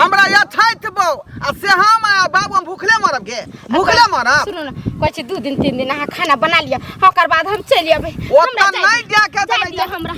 हमरा या छैत बो आ से हम आ बाबू हम भूखले मरब के भूखले मरब सुनो ना कहै छै दू दिन तीन दिन अहाँ खाना बना लिअ ओकर बाद हम चलि अबै ओतऽ हमरा नहि जाय जाके जाय देबै दिअ हमरा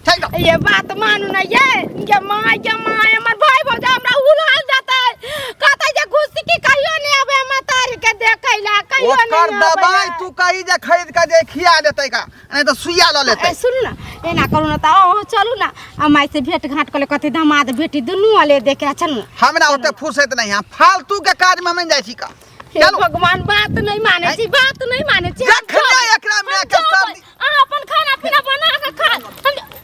छै ना। ये बात मानू ना ये ये माय ये माय हमर भाई भौजा हमरा उलाल जाता है कहता है जे घुसी की कहियो नहीं आवे मतारी के देखै ला कहियो ओकर नहीं आवे दवाई तू कही जे खरीद के जे खिया देतै का नहीं तो सुइया ल लेते ए सुन ना एना करू ना ता ओ चलू ना आ माई से भेंट घाट कर ले कथी दामाद बेटी दुनू वाले देखे आ चलू ना हमरा ओते फुर्सत नहीं है फालतू के काज में मन जाई छी का हे चलू भगवान बात नहीं माने छी बात नहीं माने छी हम जखने जाब। एकरा हम में के जाब। सर्दी- अहाँ अपन खाना पीना बना के खा हम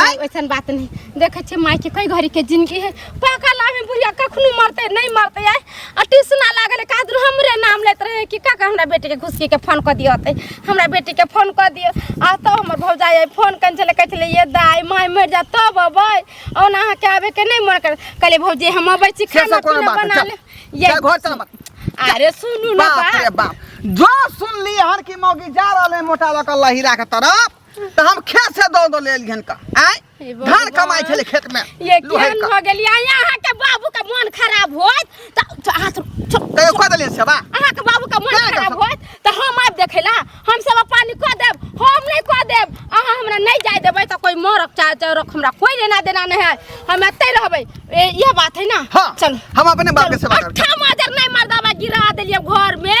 आय ओइसन बात नहीं देखे छे माई के कई घड़ी के जिंदगी है पाका लाभ में बुढ़िया कखनो मरते नहीं मरते आय आ ट्यूशन लागल है कादर हमरे नाम लेत रहे कि काका हमरा बेटी के घुसकी के फोन कर दियो ते हमरा बेटी के फोन कर दियो आ तो हमर भौजाई आय फोन कन चले कहत ले ये दाई माई मर जा तब अबै ओना अहाँ के आवे के नहीं मन कर कहले भौजी हम अबै छी से खाना सब कोनो पीना बात बना नहीं, ले चल। ये जा घर चल बाप। अरे सुनू ना बाप रे बात बाप जो सुन ली हन की मौगी जा रहल है मोटा लकल लहीरा के तरफ तो हम खेत से दो दो ले लिहन का आय हे भगवान। धान कमाई छले खेत में ये लोहे केहन का भऽ गेल या यहाँ के बाबू के मोन खराब होत त त हाथ छोड़ ते को दले से बा अहाँ के बाबू के मोन क्या कर खराब सकब? होत त हम आब देखे ला हम सब पानी क देब हम नहीं क देब अहाँ हमरा नहीं जाय देबै त कोई मरक चाहे चरक हमरा कोई लेना देना नहीं है हम एतै रहबै ए, इहे बात है ना हां चल हम अपने बाप के सेवा करब अठाम हजार नहीं मर्दाबा गिरा देलिए घर में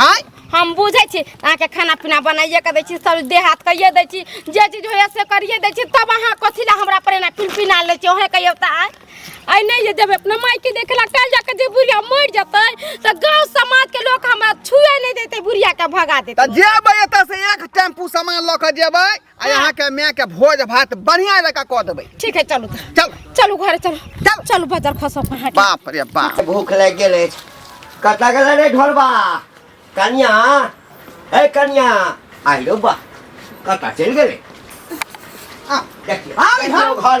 आँय हम बुझै छी अहाँके खाना पीना बनाइए के दै छी सब देह हाथ कहिए दै छी जे चीज होइए से करिए दै छी तब अहाँ कथी लए हमरा पर एना पिनपिना लै छी ओहे कहियौ तऽ आँय आइ नहि जे जेबै अपना मायके देखे लए काल्हि जाके जे बुढ़िया मरि जेतै तऽ गाँव समाजके लोक हमरा छुए नहि देतै बुढ़ियाके भगा देतै तऽ जेबै एतऽ से एक टेम्पू सामान लऽ कऽ जेबै आ यहाँ के मैं के भोज भात बढ़िया जगह कह देबै ठीक है चलू तऽ। चल चलू घरे चलू चल। चलू बाजार खसो कहाँ के बाप रे बाप भूख लागि गेल अछि कतऽ गेल रे ढोलबा कनिया ए कनिया आइ रौ बा कतऽ चलि गेलै आ, देखियौ आ, देखियौ घर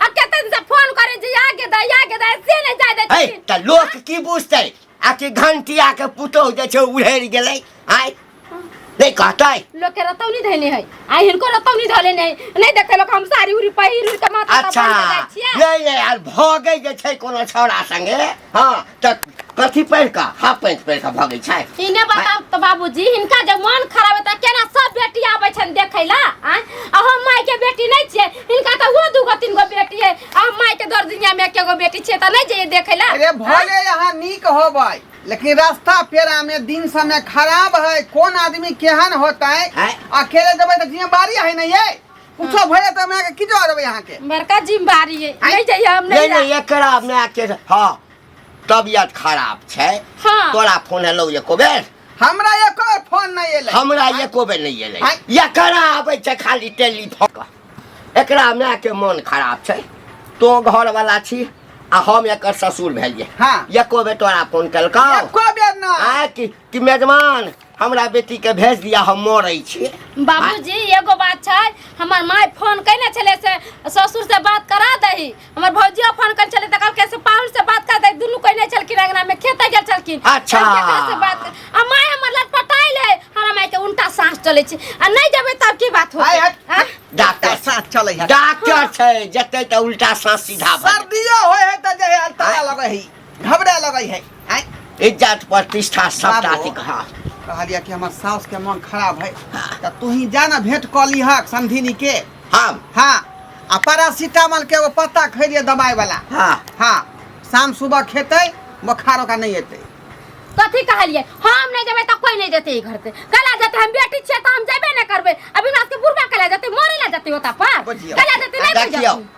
आ कते दिन से फोन करे जे आ के दा आ के दा से नहीं जाय दे है छथिन त लोक की बुझते आ कि घंटिया के पुतौ जे छै उड़ेर गेलै आय नहीं कहतै लोग के रतौनी धैने है आ हिनको रतौनी धले नहीं नहीं देखते लोग हम साड़ी उड़ी पहिर उड़ के माथा अच्छा पर जाय छियै नहीं नहीं यार भगे जे छै कोनो छौड़ा संगे हाँ त कथी पहिर कऽ हाफ पैंट पहिर कऽ भगै छै इने बताब त बाबूजी हिनका जब मन खराब है त केना सब बेटी आबै छन देखै ला आ आ हम माय के बेटी नहीं छियै इनका तो वो दू गो तीन गो बेटी है आ माई के दर दुनिया में एके गो बेटी छे त नहीं जाइए देखे ला अरे भले यहाँ नीक होबै लेकिन रास्ता पेरा में दिन समय खराब है कौन आदमी केहन होता है आय। अकेले जब तो जिम्मेवारी है नहीं है कुछो भले तो मैं की जरूर यहाँ के बड़का जिम्मेवारी है आय। नहीं जाइए हम नहीं नहीं नहीं जा- एकरा में आके हाँ तबियत खराब छै हाँ तोरा फोन हेलो एको बेर हमरा एको बेर फोन नहि एलै हमरा एको बेर नहि एलै आँय? या करा आबै छै खाली टेलीफोन कऽ। एकरा मायके मोन खराब छै तो घरवला छी आ हम एकर ससुर भेलियै हाँ। एको बेर तोरा फोन केलकौ एको बेर नहि आ कि कि मेजमान हमरा बेटीके भेज दिया हम मरै छी बाबूजी एगो बात छै हमर माय फोन कयने छलै से ससुर से बात करा दही हमर भौजिया फोन कर चले त कहलकै से पाहुन से बात कर दे दुनू कोई नहीं चलकिन अंगना में खेते गेल चलकिन अच्छा। हम केकरा से बात कर आ माय हमर लट पटाई ले हमरा माय के उल्टा सांस चले छै आ नहीं जबे तब की बात आय, होते हट। आ? डॉक्टर साथ चले है डॉक्टर छै जते त उल्टा सांस सीधा भऽ जेतै। सर्दियो होय है त जे है अल्तारा लगे है घबरा लगै है आय इज्जत प्रतिष्ठा सब बाबू। अथी हाँ कहलिया कि हमर सास के मन खराब है त तू ही जाना भेंट क लिहक समधिनी के हम हाँ आ पैरासीटामोल के एगो पत्ता खैलिए दवाई वाला हाँ हाँ शाम सुबह खेतै बोखार ओकरा नहीं एतै कथी कहलिए हम नहीं जेबे तो कोई नहीं जेते ई घर से कला जेते हम बेटी छिए तो हम जेबे नहीं करबे अभी रात के बुढ़वा कला जेते मोरे ला जेते होता पर बुझियौ। कला जेते नहीं देखियौ बुझियौ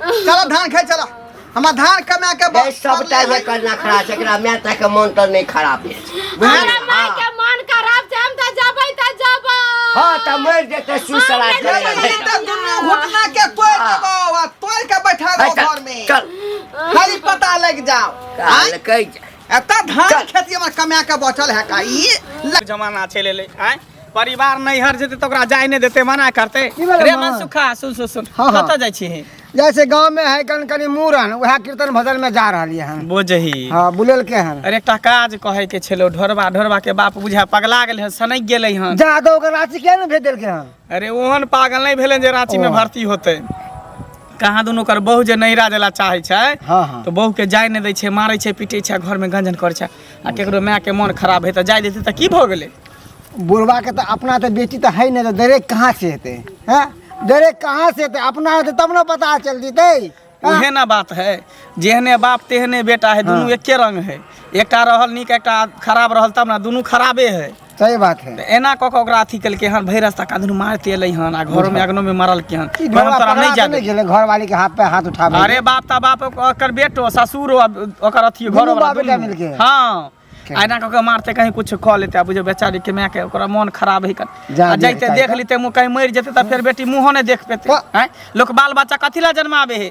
चल धान खाए चल हमरा धान कमा के गै सबटा जे करना खड़ा छै एकरा माय ता के मन त नै खराब भेल छै। हमरा माय के मन खराब छै हम तऽ जबै तऽ जबै हाँ त मर जेतै सुसरा हाँ, करे मैं ले। तो दुनू घुटना के तोड़ देबो आ तोड़ के बैठा दो अच्छा, घर में चल खाली पता लग जाओ काल कहि जा एता धान खेती हमर कमा के बचल है का ई जमाना चलि एलै आँय परिवार नैहर जेतै तऽ ओकरा जाय नहि देतै मना करतै की भेलै रे माँ? मन सुखा सुन सुन सुन हाँ, हाँ। कतऽ जाइ छी जैसे गांव में है कन कनी मूरन वह कीर्तन भजन में जा रही है बोझही हाँ बुलेल के हन अरे एकटा काज कहै के छेलो ढोरबा ढोरबा के बाप बुझा पगला गेलै हन सनक गेलै हन जा तो ओकर राशि किया ने भेज देलके हन अरे ओहन पागल नहि भेलै जे रांची में ओ। भर्ती होतै कहाँ दुनू ओकर बहू जे नैहरा देला चाहै छै हाँ हाँ तो बहू के जाय नहि दै छै मारै छै पीटै छै घर में गंजन करै छै आ केकरो मायके मोन खराब हेतै जाय देतै तऽ की भऽ गेलै बुढ़वा के तऽ अपना तऽ बेटी तऽ है नहि तऽ दरे कहाँ से हेतै हैं दरे कहाँ से हेतै अपना हेतै तब ने पता चल जेतै हैं? उहे ना बात है जेहने बाप तेहने बेटा है दुनू एके रंग है एकटा रहल नीक एकटा खराब रहल तब ना दुनू खराबे है सही बात है एना कऽ कऽ ओकरा अथी केलकै हन भरि रास्ता कादन मारते एलै हन आ घरो में अगनो में मारलकै हन ई कहलक घोड़ा तोरा पकड़ा नहि के जाए नहीं गेले घर वाली के हाथ पे हाथ उठा अरे बाप ता बाप ओकर बेटो ससुर ओकर अथी घर दुनू बाप बेटा मिलके। हाँ आ एना कऽ के मारते कहीं कुछ कऽ लेते आ बुझे बेचारी के माय के ओकरा मन खराब है कन जा आ जैते बेटा, देख लेते मुँह कहीं मरि जेते तऽ फेर बेटी मुँहो नहि देख पेते प- हैं? लोक बाल बच्चा कथी ला जन्माबे है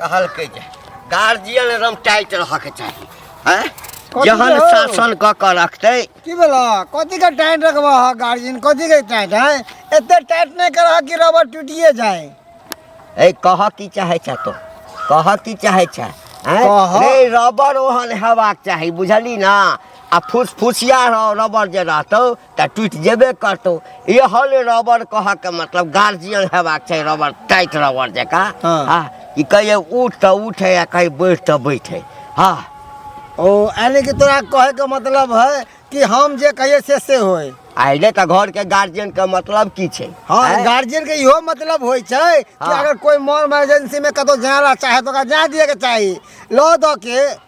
कहलकै जे गार्जियन एकदम टाइट रहऽके चाही हैं कथी जहन के हो? शासन कऽ कऽ रखतै की बोला कथी के टाइट रखबा है गार्जियन कथी के टाइट है एते टाइट नहीं कर कि रबर टूटिए जाए ए कहऽ की चाहै छऽ तो कहऽ की चाहै छऽ हैं? कहऽ। रे रबर ओहन हेबाक चाही बुझली ना आ फुसफुसिया रह- रबर जे रहतौ तऽ टूटि जेबे करतौ इहो ले रबर कहऽके मतलब गार्जियन हेबाक चाही रबर टाइट रबर जकाँ हँ। हँ कि कहिये उठ तऽ उठे आ कहीं बैठ तऽ बैठे हँ ओ यानी कि तोरा कहे के मतलब है कि हम जे कहिए से से होय आइले तऽ घरके गार्जियनके मतलब की छै हाँ आँय? गार्जियन के इहो मतलब होय छै कि हाँ। अगर कोई मॉल इमरजेंसी में कतौ जाना चाहे तो ओकरा जा दिए के चाही लो दो के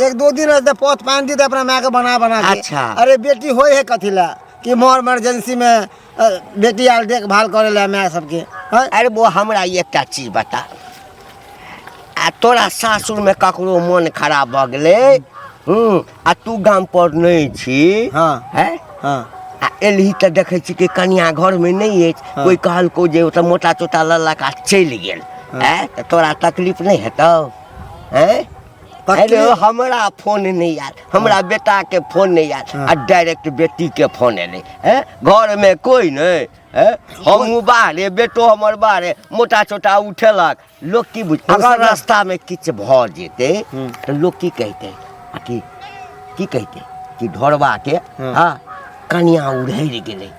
एक दो दिन रहते पथ पानि दी तऽ अपना मायके बना बना के अच्छा। अरे बेटी होय है कथी लए कि मोर इमरजेंसी में अ, बेटी आर देखभाल करे लए माय सबके हैं? अरे वो हमरा एकटा चीज बता आ तोरा सासुर में ककरो मन खराब भऽ गेलै हूँ आ तू गाम पर नहि छी हाँ। हैं? हाँ आ एलही तऽ देखै छी कि कनिया घर में नहि अछि हाँ। कोइ कहलकौ जे ओतऽ मोटा चोटा लऽ लऽ कऽ चलि गेल हैं? तऽ तोरा तकलीफ नहि हेतौ हैं हेलो हमरा फोन नहि आयल हमरा बेटा के फोन नहि आयल हाँ। आ डायरेक्ट बेटी के फोन एलै हैं घर में कोई नहीं हैं हम बाहरे बेटो हमर बाहरे मोटा छोटा उठेलक लोग की बुझ अगर अगर- रास्ता में किछ भ जेते हम्म। तो लोग की कहते आ की की कहते कि ढोरबा के हाँ। हाँ कनिया उड़हरि गेलै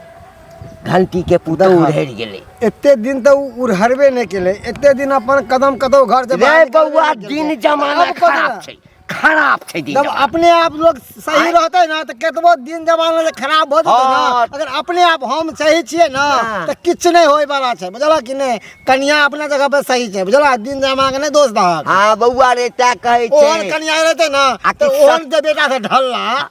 घंटी के पुतौ उड़ि गेलै एते दिन तऽ उ उड़हरबे नहि केलै एते दिन अपन कदम कतौ घर से रे बाहर निकलबे बौआ नहि केलकै। दिन जमाना आब कतौ खराब छै खराब छै दिन जब जमाना। अपने आप लोग सही आँय? रहते ना तऽ केतबो दिन जमाना जे खराब भऽ जेतै ना हाँ। अगर अपने आप हम सही छियै ना हाँ। तऽ किछु नहि होय वाला छै बुझलह कि नहि कनिया अपना जगह पर सही छै बुझलह दिन जमाना के नहि दोष दहक हाँ बौआ रे तै कहै ओहन छै कनिया रहते ना आ तऽ किछु ओहन जे बेटा से ढलला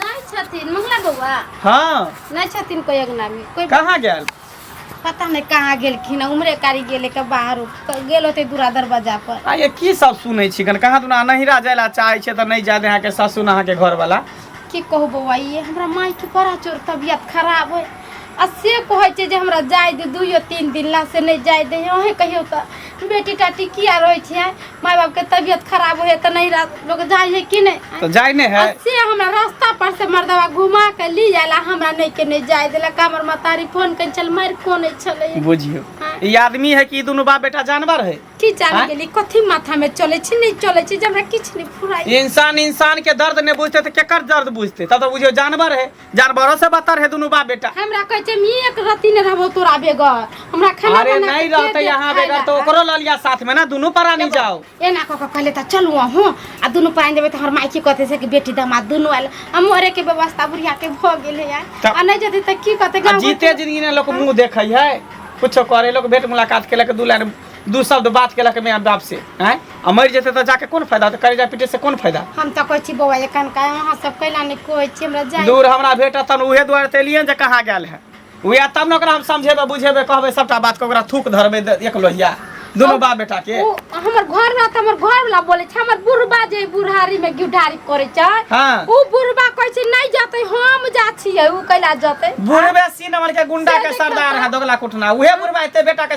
नहि छथिन मंगला बौआ हाँ नहि छथिन कोई अंगना में कोई कहाँ गया पता नहीं कहाँ गेलखिन उम्रे कारी गेले के बाहर गेल होते दूरा दरवाजा पर आ ये की सब सुनै छी कन कहाँ दुना नहिरा जाय ला चाहै छै तऽ नहि जाय दे अहाँके सासुन अहाँके घर वाला की कहू बौआ ये हमरा माई के बड़ा चोर तबियत खराब है आ से कहै छै जे हमरा जाय दे दुइयो तीन दिन ला से नहि जाय दे अहे कहियो तऽ बेटी टाटी किया रहै छै माय बाप के तबियत खराब होए त नहीं रात लोग जाए है कि नहीं तो जाए नहीं है से हमरा रास्ता पर से मर्दवा घुमा के ली जाला हमरा नहीं के नहीं जाए देला का हमर मतारी फोन कर चल मार कोन छले बुझियो हाँ। ई आदमी है कि ई दुनू बाप बेटा जानवर है की जाने हाँ? के लिए कथी माथा में चले छी नहीं चले छी जब हमरा किछ नहीं फुराई इंसान इंसान के दर्द नहीं बुझते तो केकर दर्द बुझते तब तो बुझियो जानवर है जार भरोसे बतर है दोनों बाप बेटा हमरा कहै छै मी एक रति ने रहबो तोरा बेगर हमरा खाना अरे बना नहीं के रहते दे यहाँ खाय बेगर तो ला। ओकरो ल लिया साथ में ना दोनों परानी जाओ एना कऽ कऽ कहले तऽ चलू अहूँ आ दुनू पानि देबै तऽ हमर माइकी कहतै से कि बेटी दामाद दुनू आयल आ मरेके व्यवस्था बुढ़ियाके भऽ गेलै यार तऽ- आ नहि जेतै तऽ की कहतै आ गाँव जीते जिंदगी ने लोग मुंह देखे है कुछो करे लोग भेंट मुलाकात केलक दू लाइन दू शब्द बात केलक माय बाप से आँय आ मरि जेतै तऽ जाके कोन फायदा तऽ करेजा पीटे से कोन फायदा हम तऽ कहै छी बौआ एखन का अहाँ सब कैला नहि कहै छी हमरा जाय दूर हमरा भेटत तहन उहे दुआरे तऽ एलियै जे कहाँ गेल है उएह तब ने ओकरा हम समझेबै बुझेबै कहबै सभटा बात के ओकरा थूक धरबै द- एक लोहिया दुनू बाप बेटा के उ हमर घर में त हमर घर वाला बोले छै हमर बुढ़बा जे बुढ़ारी में गिटारी करे छै हाँ। उ बुढ़बा कहै छै नहीं जाते हम जा छियै उ कैला जाते बुढ़बे सी नंबर के गुंडा के सरदार है दोगला कुटना उहे बुढ़बा एते बेटा के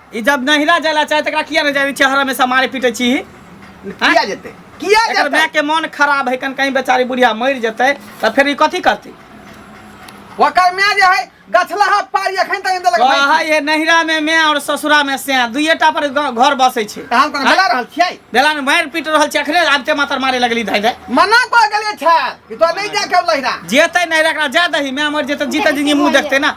ई जब नहिरा जाय ला चाहे तकरा किया न जाय छै हरा में समारे पीटे छी किया जेते किया जेते मैं के मन खराब है कन कहीं बेचारी बुढ़िया मर जते त फिर ई कथि करती ओकर मैं जे है गछला हाथ पारी अखन तक इंदल लगा हां ये नहिरा में मैं और ससुरा में से दुइटा पर घर बसे छै हम कोन बेला रहल छै बेला में मार पीट रहल छै अखने आब ते मातर मारे लगली धाइ धाइ मना क गेले छै कि तो नहीं जा के लहिरा जेते नहिरा एकरा जा दही मैं मर जेते जीते जिंदगी मुंह देखते ना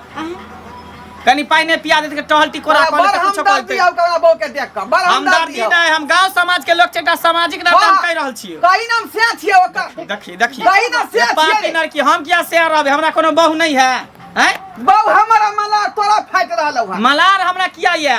कनी पाई नहीं पिया देते टहल टिकोरा कर बड़ लेते कुछ हमदर्दी करते आउ करा बो के देख के बड़ हम हमदर्दी दर्दी नहीं हम गांव समाज के लोग छै एकटा सामाजिक नाते हम कह रहल छियै कहीं नाम से छिए ओकर देखी देखी कहीं ना से ये पापी छिए लड़की हम किया से रहबे हमरा कोनो बहू नहीं है हैं बहु हमर मला तोरा फाट रहल हौ मलार हमरा किया ये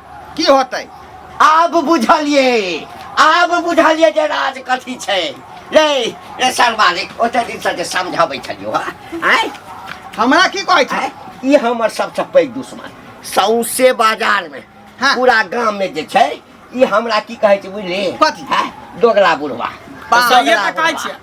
की होतै आब बुझलिए आब बुझलिए जे राज कथी छै रे रे सर मालिक ओते दिन से जे समझाबै छलियो हा आय हमरा की कहै छै आय ई हमर सबसँ पैघ दुश्मन सौंसे बाजार में हाँ। पूरा गाम में जे छै ई हमरा की कहै छै बुझली कथी? हैं? दोगला बुढ़वा बाप रे, दोगला ये तऽ कहै बुढ़वा। छियै।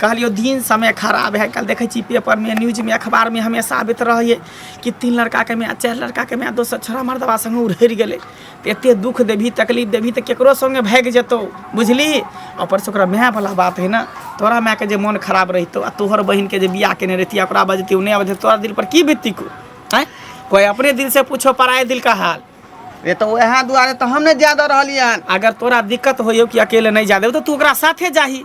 कहलियो दिन समय खराब है कल देखे छी पेपर में न्यूज में अखबार में हमेशा आबित रहिए कि तीन लड़का के माय चार लड़का के माय दोसर छोरा मर्दवा संगे उड़हरि गेलै तऽ एते दुख देबही तकलीफ देबही तऽ केकरो संगे भागि जेतौ बुझली ऊपर से ओकरा माय वाला बात है ना तोरा माय के जे मन खराब रहितो आ तोहर बहिन के जे बियाह केने रहिती ओकरा बजती उ नहि बजती तोरा दिल पर की बीतती को हैं कोई अपने दिल से पूछो पराए दिल का हाल ये तो वह दुआरे तो हम नहीं ज्यादा रहलिए हन अगर तोरा दिक्कत होइयो कि अकेले नहीं जा देबो तो तू ओकरा साथे जाही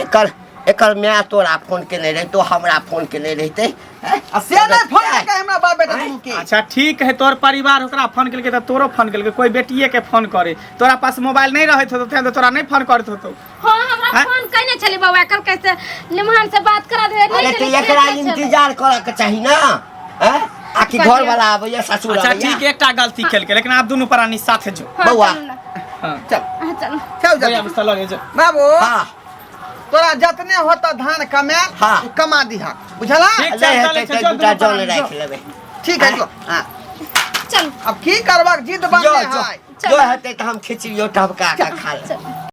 एकर एकर माय तोरा फोन केने रहे तो हमरा फोन केने रहते हैं? आ से नहि फोन क्या है? केलकै हमरा बाप बेटा दुनू के अच्छा ठीक है तोर परिवार ओकरा फोन केलकै तऽ तोरो फोन केलकै कोई बेटिए के फोन करे तोरा पास मोबाइल नहीं रहत होतो तें तऽ तोरा नहीं फोन करत होतो हाँ हमरा हैं? फोन कइने छली बौआ कल कैसे निमहन से बात करा दे अरे तो एकरा इंतजार करऽ के चाही ना हैं? आ कि घर वाला आबैया ससुर अच्छा आबैया ठीक एकटा गलती केलकै लेकिन आब दुनू प्राणी साथे जो हाँ, बौआ। चलू ना। हाँ चल हाँ, चलू चल जा भैया मिस्टर लगे जो बाबू हाँ तोरा जतने होता धान कमाए हाँ। उ कमा दिहा बुझला ठीक ले चल, हेतै चल, तऽ चल, दूटा दुनू जल प्राणी राखि लेबै ठीक है जो हाँ चलू अब की करबक जिद जो बनले जो है जो हेतै तऽ हम खिचड़ियो टबका कऽ खा लेबै चलू